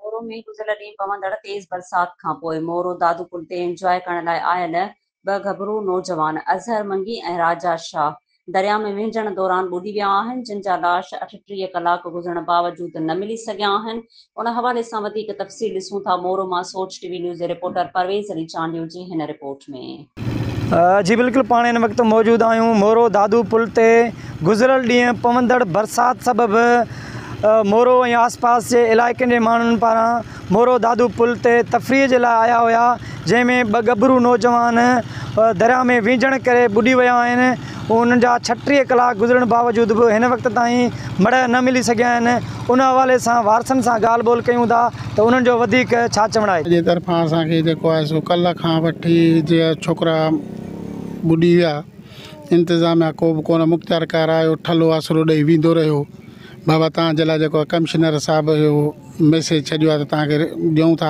مورو ۾ گذريل ڏينهن پوندڙ تيز برسات کانپوء مورو دادو پل تي انجواء ڪرڻ لاء آيل ٻه گهٻرو نوجوان اظهر منگي ۽ راجا شاهه درياء ۾ وهنجڻ دوران ٻڏي ويا آهن جن جا لاش اٺٽيهه ڪلاڪ گذرڻ باوجود نه ملي سگهيا آهن ان حوالي سان وڌيڪ تفصيل ڏسون ٿا مورو مان سوچ ٽي وي نيوز جي رپورٽر پرويز علي چانڊيو جي هن رپورٽ ۾. جي بلڪل پاڻ ان وقت موجود آهيون مورو دادو پل تي گذريل ڏينهن پوندڙ برسات سبب مورو ۽ آس پاس جي علائقن جي ماڻهن پاران مورو دادو پل تي تفريح جي لاء آيا هيا جنهن ۾ ٻه ڳڀرو نوجوان درياء ۾ ويجهڻ ڪري ٻڏي ويا آهن انهن جا ڇٽيهه ڪلاڪ گذرڻ باوجود به هن وقت تائين مڙهه نه ملي سگهيا آهن ان حوالي سان وارثن سان ڳالهه ٻولهه ڪيون ٿا ته انهن جو وڌيڪ ڇا چوڻ آهي. جي طرفان اسان کي جيڪو آهي سو ڪلهه کان وٺي جيئن ڇوڪرا ٻڏي ويا انتظاميا ڪو به ڪونه مختيار ڪار آيو ٺلهو آسرو ڏئي ويندو رهيو بابا تان جي لاء جيڪو ڪمشنر صاحب جو ميسيج ڇڏيو آهي ته تان کي ڏيون ٿا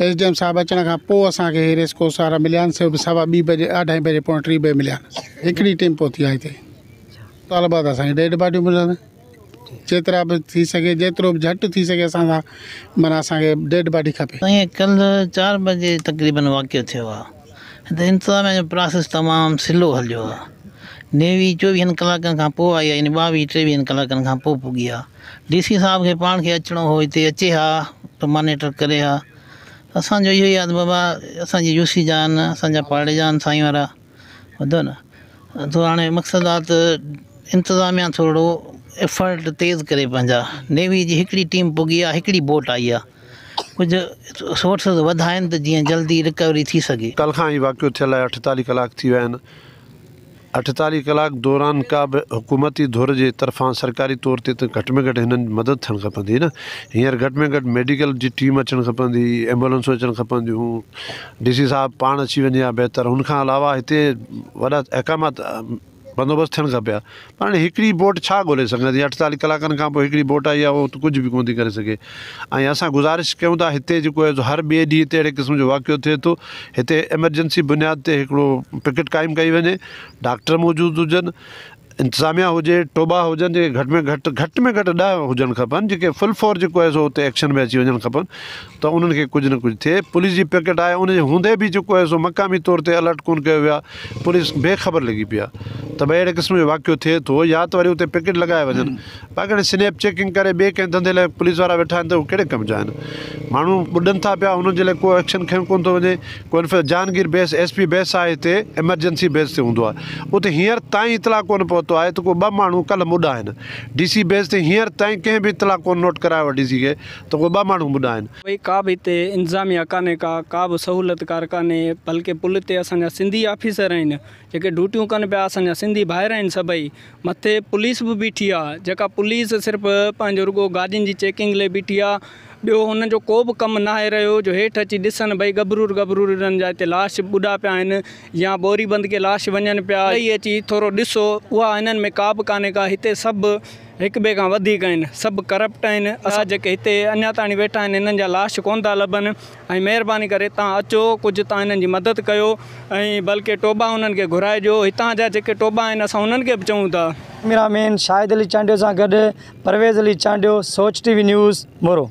ايس ڊي ايم صاحب اچڻ کان پوء اسان کي اهي ريس ڪورس وارا مليا آهن سو به سوا ٻي بجي اڍائي بجي پوڻي ٽي بجي مليا آهن هڪڙي ٽيم پهتي آهي هتي طالبا ته اسانکي ڏيڍ باڊيون ملن جيترا به ٿي سگهي جيترو به جهٽ ٿي سگهي اسان سان مانا اسانکي ڏيڍ باڊي کپي سائين ڪلھ چار بجي تقريبن واقعو ٿيو آ هتي انتظاميا جو پراسيس تمام سلو هليو آ نيوي چوويهن ڪلاڪن کان پوء آئي آ يعني ٻاويهه ٽيويهن ڪلاڪن کان پوء پڳي آ ڊي سي صاحب کي پاڻ کي اچڻو هو هتي اچي ها ته مانيٽر ڪري ها اسان جو اهو ئي آد بابا اسان جي يو سي جا آهن اسان جا پاڙي جا آهن سائين وارا ٻڌو نه تو هاڻي مقصد آ ته انتظاميا ٿورڙو افرٽ تيز ڪري پنهنجا نيوي جي هڪڙي ٽيم پگهي آ هڪڙي بوٽ آئي آ ڪجهه سورسز وڌائين ته جيئن جلدي رڪوري ٿي سگهي. ڪلهه کان هي واقعو ٿيل آهي اٺتاليهه ڪلاڪ ٿي ويا آهن. اٺيتاليهه ڪلاڪ دوران ڪا به حڪومتي ڌر جي طرفان سرڪاري طور تي ته گهٽ ۾ گهٽ هنن جي مدد ٿيڻ کپندي نه. هينئر گهٽ ۾ گهٽ ميڊيڪل جي ٽيم اچڻ کپندي، ايمبولنسون اچڻ کپنديون. ڊي سي صاحب پاڻ اچي وڃي ها بهتر. ان کان علاوه هتي وڏا احڪامات بندوبست ٿيڻ کپي ها. پر هاڻي هڪڙي بوٽ ڇا ڳولي سگهندي. اٺيتاليهه ڪلاڪن کانپوء هڪڙي بوٽ آئي آهي اها ته ڪجهه به ڪونه ٿي ڪري سگهي. ۽ اسان گذارش ڪيون ٿا هتي جيڪو آهي سو هر ٻئي ڏينهن تي اهڙي قسم جو واقعو ٿئي ٿو هتي ايمرجنسي بنياد تي هڪڙو پڪيٽ قائم ڪئي وڃي ڊاڪٽر موجود هجن انتظاميا هجي ٽوٻا هجن جيڪي گهٽ ۾ گهٽ گهٽ ۾ گهٽ ڏهه هجڻ کپن جيڪي فل فور جيڪو آهي سو هتي ايڪشن ۾ اچي وڃڻ کپن ته انهن کي ڪجهه نه ڪجهه ٿئي پوليس جي پڪيٽ آهي ان جي هوندي به جيڪو آهي سو مقامي طور تي الرٽ ڪون ڪيو ويو آهي پوليس بي خبر لڳي پئي آهي ته ڀئي اهڙي قسم جو واقعو ٿئي ٿو يا ته وري اتي پڪيٽ لڳايا وڃن پاڪڙ سنيپ چيڪنگ ڪري ٻئي ڪنهن ڌنڌي لاء پوليس وارا ويٺا آهن ته اهي ڪهڙي ڪم جا آهن ماڻهو ٻڏن ٿا پيا انهن جي لاء ڪو ايڪشن کنيو ڪونه ٿو وڃي ڪو انفيڪ Jahangir base S P base آهي هتي ايمرجنسي بيس تي هوندو آهي اتي هينئر تائين اطلاع ڪونه پهتو آهي ته ڪو ٻه ماڻهو ڪلهه مڏا آهن ڊي سي بيس تي هينئر تائين ڪنهن به اطلاع ڪونه نوٽ ڪرايو آهي ڊي سي کي ته ڪو ٻه ماڻهو مڏا آهن. ٻئي ڪا به هتي انتظاميا ڪانهي ڪا ڪا به سهولت ڪار ڪانهي بلڪه پل تي اسان جا سنڌي آفيسر آهن جيڪي ڊوٽيون ڪن پيا اسان جا سنڌي ڀائر آهن سڀئي مٿي پوليس به بيٺي آ جيڪا پوليس صرف پنهنجو رڳو گاڏين جي چيڪنگ لئي بيٺي آ ٻيو هنن جو ڪو به ڪم ناهي رهيو جو هيٺ اچي ڏسن ڀئي ڳڀرور ڳڀرور انهن جا هتي لاش ٻڏا پيا آهن يا ٻوري بند ڪي لاش وڃن پيا ته اچي ٿورو ڏسو اها هنن ۾ ڪا به ڪانهي ڪا هتي سڀ هڪ ٻئي کان وڌيڪ آهن سڀ ڪرپٽ آهن اسان جيڪي هتي اڃا تاڻي ويٺا آهن هنن جا لاش ڪونه ٿا لڀن. ۽ مهرباني ڪري تان اچو ڪجهه تان هنن جي مدد ڪيو ۽ بلڪه ٽوبا انهن کي گهرائي ڏيو هتان جا جيڪي ٽوبا آهن اسان انهن کي به چئون ٿا. ڪيميرا مين شاهد علي چانڊيو سان گڏ Pervez Ali Chandio Soch T V news Moro.